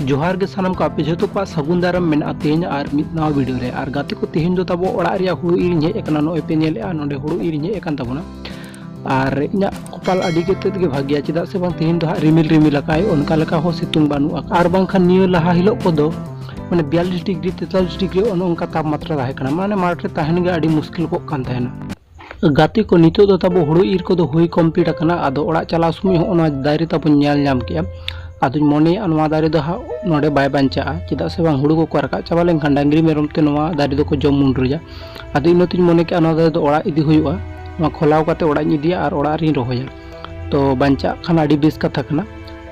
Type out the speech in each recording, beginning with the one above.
ᱡᱚᱦᱟᱨ ᱜᱮ ᱥᱟᱱᱟᱢ ᱠᱚ ᱟᱯᱮ ᱡᱚᱛᱚ ᱠᱚᱣᱟᱜ ᱥᱟᱹᱜᱩᱱ ᱫᱟᱨᱟᱢ ᱢᱮᱱᱟᱜᱼᱟ ᱛᱮᱦᱮᱧ ᱟᱨ ᱢᱤᱫ ᱱᱟᱣᱟ ᱵᱷᱤᱰᱤᱭᱳ ᱨᱮ ᱟᱨ ᱜᱟᱛᱮ ᱠᱚ ᱛᱮᱦᱮᱧ ᱫᱚ ᱛᱟᱵᱚ ᱚᱲᱟᱜ ᱨᱮᱭᱟᱜ ᱦᱩᱲᱩ ᱤᱨᱤᱧ ᱦᱮᱡ ᱟᱠᱟᱱᱟ ᱱᱚᱜᱼᱚᱭ ᱯᱮ ᱧᱮᱞᱮᱜᱼᱟ ᱱᱚᱰᱮ ᱦᱩᱲᱩ ᱤᱨᱤᱧ ᱦᱮᱡ ᱟᱠᱟᱱ ᱛᱟᱵᱚᱱᱟ ᱟᱨ ᱤᱧᱟᱹᱜ ᱠᱚᱯᱟᱞ ᱟᱹᱰᱤ ᱠᱟᱛᱮᱫ ᱜᱮ ᱵᱷᱟᱜᱮᱭᱟ ᱪᱮᱫᱟᱜ ᱥᱮ ᱵᱟᱝ ᱛᱮᱦᱮᱧ ᱫᱚ ᱦᱟᱸᱜ ᱨᱤᱢᱤᱞ ᱨᱤᱢᱤᱞ ᱟᱠᱟᱫ ᱟᱭ ᱚᱱᱠᱟ ᱞᱮᱠᱟ ᱦᱚᱸ ᱥᱤᱛᱩᱝ ᱵᱟᱹᱱᱩᱜᱼᱟ ᱟᱨ ᱵᱟᱝᱠᱷᱟᱱ ᱱᱤᱭᱟᱹ ᱞᱟᱦᱟ ᱦᱤᱞᱳᱜ ᱠᱚᱫᱚ ᱢᱟᱱᱮ ᱵᱤᱭᱟᱞᱞᱤᱥ ᱰᱤᱜᱽᱨᱤ ᱛᱮᱛᱟᱞᱤᱥ ᱰᱤᱜᱽᱨᱤ ᱚᱱᱮ ᱚᱱᱠᱟ ᱛᱟᱯᱢᱟᱛᱨᱟ ᱛᱟᱦᱮᱸ ᱠᱟᱱᱟ ᱢᱟᱱᱮ ᱢᱟᱴᱷ ᱨᱮ ᱛᱟᱦᱮᱱ ᱜᱮ ᱟᱹᱰᱤ ᱢᱩᱥᱠᱤᱞ ᱠᱚᱜ ᱠᱟᱱ ᱛᱟᱦᱮᱱᱟ ᱜᱟᱛᱮ ᱠᱚ ᱱᱤᱛᱚᱜ ᱫᱚ ᱛᱟᱵᱚ ᱦᱩᱲᱩ ᱤᱨ ᱠᱚᱫᱚ ᱦᱩᱭ ᱠᱚᱢᱯᱞᱤᱴ ᱟᱠᱟᱱᱟ ᱟᱫᱚ ᱚᱲᱟᱜ ᱪᱟᱞᱟᱣ ᱥᱚᱢᱚᱭ ᱦᱚᱸ ᱚᱱᱟ ᱫᱟᱨᱮ ᱛᱟᱵᱚ ᱧᱮᱞ ᱧᱟᱢ ᱠᱮᱜᱼᱟ ᱟᱫᱚᱧ ᱢᱚᱱᱮᱭᱟ ᱱᱚᱣᱟ ᱫᱟᱨᱮ ᱫᱚ ᱦᱟᱸᱜ ᱱᱚᱰᱮ ᱵᱟᱭ ᱵᱟᱧᱪᱟᱜᱼᱟ ᱪᱮᱫᱟᱜ ᱥᱮ ᱵᱟᱝ ᱦᱩᱲᱩ ᱠᱚᱠᱚ ᱨᱟᱠᱟᱵ ᱪᱟᱵᱟ ᱞᱮᱱᱠᱷᱟᱱ ᱰᱟᱝᱨᱤ ᱢᱮᱨᱚᱢ ᱛᱮ ᱱᱚᱣᱟ ᱫᱟᱨᱮ ᱫᱚᱠᱚ ᱡᱚᱢ ᱢᱩᱰᱨᱩᱭᱟ ᱟᱫᱚ ᱤᱱᱟᱹᱛᱤᱧ ᱢᱚᱱᱮ ᱠᱮᱜᱼᱟ ᱱᱚᱣᱟ ᱫᱟᱨᱮ ᱫᱚ ᱚᱲᱟᱜ ᱤᱫᱤ ᱦᱩᱭᱩᱜᱼᱟ ᱱᱚᱣᱟ ᱠᱷᱚᱞᱟᱣ ᱠᱟᱛᱮ ᱚᱲᱟᱜ ᱤᱧ ᱤᱫᱤᱭᱟ ᱟᱨ ᱚᱲᱟᱜ ᱨᱤᱧ ᱨᱚᱦᱚᱭᱟ ᱛᱚ ᱵᱟᱧᱪᱟᱜ ᱠᱷᱟᱱ ᱟᱹᱰᱤ ᱵᱮᱥ ᱠᱟᱛᱷᱟ ᱠᱟᱱᱟ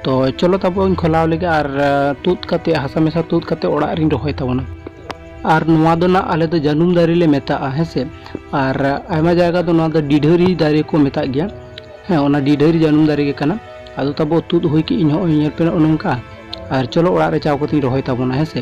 ᱛᱚ ᱪᱚᱞᱚ ᱛᱟᱵᱚᱱ ᱠᱷᱚᱞᱟᱣ ᱞᱮᱜᱮ ᱟᱨ ᱛᱩᱫ ᱠᱟᱛᱮ ᱦᱟᱥᱟ ᱢᱮᱥᱟ ᱛᱩᱫ ᱠᱟᱛᱮ ᱚᱲᱟᱜ ᱨᱤᱧ ᱨᱚᱦᱚᱭ ᱛᱟᱵᱚᱱᱟ ᱟᱨ ᱱᱚᱣᱟ ᱫᱚ ᱱᱟᱜ ᱟᱞᱮ ᱫᱚ ᱡᱟᱹᱱᱩᱢ ᱫᱟᱨᱮ ᱞᱮ ᱢᱮᱛᱟᱜᱼᱟ ᱦᱮᱸ ᱥᱮ ᱟᱨ ᱟᱭᱢᱟ ᱡᱟᱭᱜᱟ ᱫᱚ ᱱᱚᱣᱟ ᱫᱚ ᱰᱤᱰᱷᱟᱹᱨᱤ ᱫᱟᱨᱮ ᱠᱚ ᱢᱮᱛᱟᱜ ᱜᱮᱭᱟ ᱦᱮᱸ ᱚᱱᱟ ᱰᱤᱰᱷᱟᱹᱨᱤ ᱡᱟᱹᱱᱩᱢ ᱫᱟᱨᱮ ᱜᱮ ᱠᱟᱱᱟ ᱟᱫᱚ ᱛᱟᱵᱚ ᱛᱩᱫ ᱦᱩᱭ ᱠᱮᱫ ᱤᱧ ᱦᱚᱸᱜᱼᱚᱭ ᱧᱮᱞ ᱯᱮ ᱱᱚᱜᱼᱚ ᱱᱚᱝᱠᱟ ᱟᱨ ᱪᱚᱞᱚ ᱚᱲᱟᱜ ᱨᱮ ᱪᱟᱣ ᱠᱟᱛᱮᱧ ᱨᱚᱦᱚᱭ ᱛᱟᱵᱚᱱᱟ ᱦᱮᱸ ᱥᱮ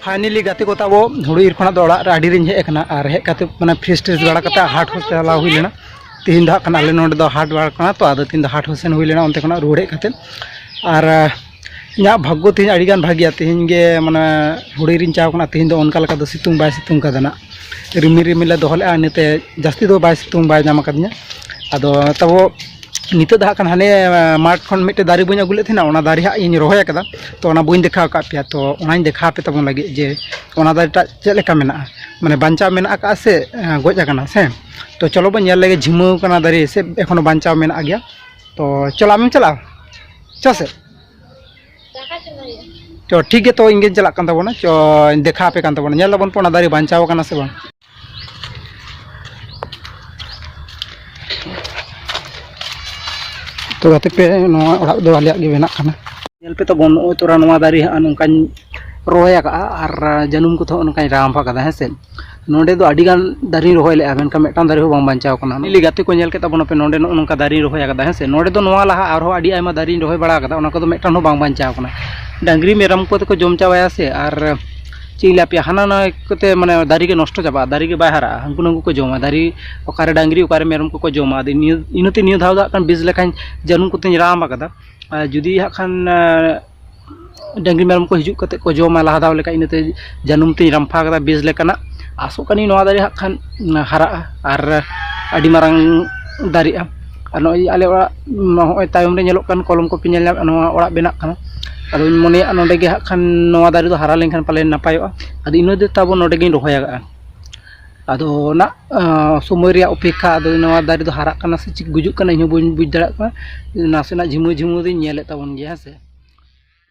ᱯᱷᱟᱭᱱᱮᱞᱤ ᱜᱟᱛᱮ ᱠᱚ ᱛᱟᱵᱚ ᱦᱩᱲᱩ ᱤᱨ ᱠᱷᱚᱱᱟᱜ ᱫᱚ ᱚᱲᱟᱜ ᱨᱮ ᱟᱹᱰᱤ ᱨᱤᱧ ᱦᱮᱡ ᱟᱠᱟᱱᱟ ᱟᱨ ᱦᱮᱡ ᱠᱟᱛᱮ ᱢᱟᱱᱮ ᱯᱷᱨᱮᱥ ᱴᱨᱮᱥ ᱵᱟᱲᱟ ᱠᱟᱛᱮ ᱦᱟᱴ ᱦᱚᱸ ᱪᱟᱞᱟᱣ ᱦᱩᱭ ᱞᱮᱱᱟ ᱛᱤᱦᱤᱧ ᱫᱚ ᱦᱟᱸᱜ ᱠᱷᱟᱱ ᱟᱞᱮ ᱱᱚᱰᱮ ᱫᱚ ᱦᱟᱴ ᱵᱟᱲᱟ ᱠᱟᱱᱟ ᱛᱚ ᱟᱫᱚ ᱛᱤᱦᱤᱧ ᱫᱚ ᱦᱟᱴ ᱦᱚᱸ ᱥᱮᱱ ᱦᱩᱭ ᱞᱮᱱᱟ ᱚᱱᱛᱮ ᱠᱷᱚᱱᱟᱜ ᱨᱩᱣᱟᱹᱲ ᱦᱮᱡ ᱠᱟᱛᱮ ᱟᱨ ᱤᱧᱟᱹᱜ ᱵᱷᱟᱜᱽᱜᱚ ᱛᱤᱦᱤᱧ ᱟᱹᱰᱤ ᱜᱟᱱ ᱵᱷᱟᱜᱮᱭᱟ ᱛᱤᱦᱤᱧ ᱜᱮ ᱢᱟᱱᱮ ᱦᱩᱲᱩ ᱤᱨᱤᱧ ᱪᱟᱣ ᱠᱟᱱᱟ ᱛᱤᱦᱤᱧ ᱫᱚ ᱚᱱᱠᱟ ᱞᱮᱠᱟ ᱫᱚ ᱥᱤᱛᱩᱝ ᱵᱟᱭ ᱥᱤᱛᱩᱝ ᱠᱟᱫᱟ ᱱᱟᱜ ᱨᱤᱢᱤᱞ ᱨᱤᱢᱤᱞᱮ ᱫᱚᱦᱚ ᱞᱮᱫᱼᱟ ᱤᱱᱟᱹᱛᱮ ᱡᱟᱹᱥᱛᱤ ᱫᱚ ᱵᱟᱭ ᱥᱤᱛᱩᱝ ᱵᱟᱭ ᱧᱟᱢ ᱠᱟᱫᱤᱧᱟ ᱟᱫᱚ ᱛᱟᱵᱚ ᱱᱤᱛᱚᱜ ᱫᱚ ᱦᱟᱸᱜ ᱠᱷᱟᱱ ᱦᱟᱱᱮ ᱢᱟᱴᱷ ᱠᱷᱚᱱ ᱢᱤᱫᱴᱮᱱ ᱫᱟᱨᱮ ᱵᱟᱹᱧ ᱟᱹᱜᱩ ᱞᱮᱫ ᱛᱟᱦᱮᱱᱟ ᱚᱱᱟ ᱫᱟᱨᱮ ᱦᱟᱸᱜ ᱤᱧ ᱨᱚᱦᱚᱭ ᱠᱟᱫᱟ ᱛᱚ ᱚᱱᱟ ᱵᱟᱹᱧ ᱫᱮᱠᱷᱟᱣ ᱠᱟᱜ ᱯᱮᱭᱟ ᱛᱚ ᱚᱱᱟᱧ ᱫᱮᱠᱷᱟᱣ ᱟᱯᱮ ᱛᱟᱵᱚᱱ ᱞᱟᱹᱜᱤᱫ ᱡᱮ ᱚᱱᱟ ᱫᱟᱨᱮ ᱴᱟᱜ ᱪᱮᱫ ᱞᱮᱠᱟ ᱢᱮᱱᱟᱜᱼᱟ ᱢᱟᱱᱮ ᱵᱟᱧᱪᱟᱣ ᱢᱮᱱᱟᱜ ᱟᱠᱟᱫᱼᱟ ᱥᱮ ᱜᱚᱡ ᱠᱟᱱᱟ ᱥᱮ ᱛᱚ ᱪᱚᱞᱚ ᱵᱚᱱ ᱧᱮᱞ ᱞᱮᱜᱮ ᱡᱷᱤᱢᱟᱹᱣ ᱠᱟᱱᱟ ᱫᱟᱨᱮ ᱥᱮ ᱮᱠᱷᱚᱱᱳ ᱵᱟᱧᱪᱟᱣ ᱢᱮᱱᱟᱜ ᱜᱮᱭᱟ ᱛᱚ ᱪᱚᱞᱚ ᱟᱢᱮᱢ ᱪᱟᱞᱟᱜᱼᱟ ᱪᱚ ᱥᱮ ᱪᱚ ᱴᱷᱤᱠ ᱜᱮᱭᱟ ᱛᱚ ᱤᱧ ᱜᱤᱧ ᱪᱟᱞᱟᱜ ᱠᱟᱱ ᱛᱟᱵᱚᱱᱟ ᱪᱚ ᱫᱮᱠᱷᱟᱣ ᱟᱯᱮ ᱠᱟᱱ ᱛᱟᱵᱚᱱᱟ ᱧᱮᱞ ᱫᱟᱵᱚᱱ ᱛᱚ ᱚᱱᱟ ᱫᱟᱨᱮ ᱵᱟᱧᱪᱟᱣ ᱠᱟᱱᱟ ᱥᱮ ᱵᱟᱝ ᱛᱚ ᱜᱟᱛᱮ ᱯᱮ ᱱᱚᱣᱟ ᱚᱲᱟᱜ ᱫᱚ ᱟᱞᱮᱭᱟᱜ ᱜᱮ ᱵᱮᱱᱟᱜ ᱠᱟᱱᱟ ᱧᱮᱞ ᱯᱮ ᱛᱟᱵᱚᱱ ᱱᱚᱜᱼᱚᱭ ᱛᱚᱨᱟ ᱱᱚᱣᱟ ᱫᱟᱨᱮ ᱦᱟᱸᱜ ᱱᱚᱝᱠᱟᱧ ᱨᱚᱦᱚᱭ ᱟᱠᱟᱜᱼᱟ ᱟᱨ ᱡᱟᱹᱱᱩᱢ ᱠᱚᱛᱮ ᱦᱚᱸ ᱱᱚᱝᱠᱟᱧ ᱨᱟᱢᱯ ᱟᱠᱟᱫᱟ ᱦᱮᱸ ᱥᱮ ᱱᱚᱰᱮ ᱫᱚ ᱟᱹᱰᱤ ᱜᱟᱱ ᱫᱟᱨᱮᱧ ᱨᱚᱦᱚᱭ ᱞᱮᱜᱼᱟ ᱢᱮᱱᱠᱷᱟᱱ ᱢᱤᱫᱴᱟᱝ ᱫᱟᱨᱮ ᱦᱚᱸ ᱵᱟᱝ ᱵᱟᱧᱪᱟᱣ ᱠᱟᱱᱟ ᱞᱤᱞᱤ ᱜᱟᱛᱮ ᱠᱚ ᱧᱮᱞ ᱠᱮᱫ ᱛᱟᱵᱚᱱᱟᱯᱮ ᱱᱚᱰᱮ ᱱᱚᱜᱼᱚ ᱱᱚᱝᱠᱟ ᱫᱟᱨᱮᱧ ᱨᱚᱦᱚᱭ ᱟᱠᱟᱫᱟ ᱦᱮᱸ ᱥᱮ ᱱᱚᱰᱮ ᱫᱚ ᱱᱚᱣᱟ ᱞᱟᱦᱟ ᱟᱨᱦᱚᱸ ᱟᱹᱰᱤ ᱟᱭᱢᱟ ᱫᱟᱨᱮᱧ ᱨᱚᱦᱚᱭ ᱵᱟᱲᱟ ᱟᱠᱟᱫᱟ ᱚᱱᱟ ᱠᱚᱫᱚ ᱢᱤᱫᱴᱟᱝ ᱦᱚᱸ ᱵᱟᱝ ᱵᱟᱧᱪᱟᱣ ᱠᱟᱱᱟ ᱰᱟᱹᱝᱨᱤ ᱢᱮᱨᱚᱢ ᱠᱚᱛᱮ ᱠᱚ ᱡᱚᱢ ᱪᱟᱵᱟᱭᱟ ᱥᱮ ᱟᱨ ᱪᱮᱫ ᱤᱧ ᱞᱟᱹᱭ ᱟᱯᱮᱭᱟ ᱦᱟᱱᱟ ᱱᱟᱣᱟ ᱠᱚᱛᱮ ᱢᱟᱱᱮ ᱫᱟᱨᱮ ᱜᱮ ᱱᱚᱥᱴᱚ ᱪᱟᱵᱟᱜᱼᱟ ᱫᱟᱨᱮ ᱜᱮ ᱵᱟᱭ ᱦᱟᱨᱟᱜᱼᱟ ᱦᱟᱹᱱᱠᱩ ᱱᱟᱹᱱᱠᱩ ᱠᱚ ᱡᱚᱢᱟ ᱫᱟᱨᱮ ᱚᱠᱟᱨᱮ ᱰᱟᱹᱝᱨᱤ ᱚᱠᱟᱨᱮ ᱢᱮᱨᱚᱢ ᱠᱚᱠᱚ ᱡᱚᱢᱟ ᱟᱫᱚ ᱱᱤᱭᱟᱹ ᱤᱱᱟᱹᱛᱮ ᱱᱤᱭᱟᱹ ᱫᱷᱟᱣ ᱫᱚ ᱦᱟᱸᱜ ᱠᱷᱟᱱ ᱵᱮᱥ ᱞᱮᱠᱟᱧ ᱡᱟᱹᱱᱩᱢ ᱠᱚᱛᱮᱧ ᱨᱟᱱ ᱟᱠᱟᱫᱟ ᱟᱨ ᱡᱩᱫᱤ ᱦᱟᱸᱜ ᱠᱷᱟᱱ ᱰᱟᱹᱝᱨᱤ ᱢᱮᱨᱚᱢ ᱠᱚ ᱦᱤᱡᱩᱜ ᱠᱟᱛᱮᱫ ᱠᱚ ᱡᱚᱢᱟ ᱞᱟᱦᱟ ᱫᱷᱟᱣ ᱞᱮᱠᱟ ᱤᱱᱟᱹᱛᱮ ᱡᱟᱹᱱᱩᱢ ᱛᱮᱧ ᱨᱟᱢᱯᱷᱟ ᱟᱠᱟᱫᱟ ᱵᱮᱥ ᱞᱮᱠᱟᱱᱟᱜ ᱟᱥᱚᱜ ᱠᱟᱹᱱᱟᱹᱧ ᱱᱚᱣᱟ ᱫᱟᱨᱮ ᱦᱟᱸᱜ ᱠᱷᱟᱱ ᱦᱟᱨᱟᱜᱼᱟ ᱟᱨ ᱟᱹᱰᱤ ᱢᱟᱨᱟᱝ ᱫᱟᱨᱮᱜᱼᱟ ᱟᱨ ᱱᱚᱜᱼᱚᱸᱭ ᱟᱞᱮ ᱚᱲᱟᱜ ᱱᱚᱜᱼᱚᱸᱭ ᱛᱟᱭᱚᱢ ᱨᱮ ᱧᱮᱞᱚᱜ ᱠᱟᱱ ᱠᱚᱞᱚᱢ ᱠᱚᱯᱮ ᱧᱮᱞ ᱧᱟᱢᱮᱜᱼᱟ ᱱᱚᱣᱟ ᱚᱲᱟᱜ ᱵᱮᱱᱟᱜ ᱠᱟᱱᱟ ᱟᱫᱚ ᱤᱧ ᱢᱚᱱᱮᱭᱮᱜᱼᱟ ᱱᱚᱰᱮ ᱜᱮ ᱦᱟᱸᱜ ᱠᱷᱟᱱ ᱱᱚᱣᱟ ᱫᱟᱨᱮ ᱫᱚ ᱦᱟᱨᱟ ᱞᱮᱱᱠᱷᱟᱱ ᱯᱟᱞᱮᱱ ᱱᱟᱯᱟᱭᱚᱜᱼᱟ ᱟᱫᱚ ᱤᱱᱟᱹ ᱫᱚ ᱛᱟᱵᱚ ᱱᱚᱰᱮ ᱜᱮᱧ ᱨᱚᱦᱚᱭ ᱠᱟᱜᱼᱟ ᱟᱫᱚ ᱚᱱᱟ ᱥᱚᱢᱚᱭ ᱨᱮᱭᱟᱜ ᱚᱯᱮᱠᱠᱷᱟ ᱟᱫᱚ ᱱᱚᱣᱟ ᱫᱟᱨᱮ ᱫᱚ ᱦᱟᱨᱟᱜ ᱠᱟᱱᱟ ᱥᱮ ᱪᱮᱫ ᱜᱩᱡᱩᱜ ᱠᱟᱱᱟ ᱤᱧ ᱦᱚᱸ ᱵᱟᱹᱧ ᱵᱩᱡᱽ ᱫᱟᱲᱮᱭᱟᱜ ᱠᱟᱱᱟ ᱱᱟᱥᱮᱱᱟᱜ ᱡᱷᱤᱢᱟᱹ ᱡᱷᱤᱢᱟᱹ ᱫᱚᱧ ᱧᱮᱞᱮᱜ ᱛᱟᱵᱚᱱ ᱜᱮᱭᱟ ᱦᱮᱸ ᱥᱮ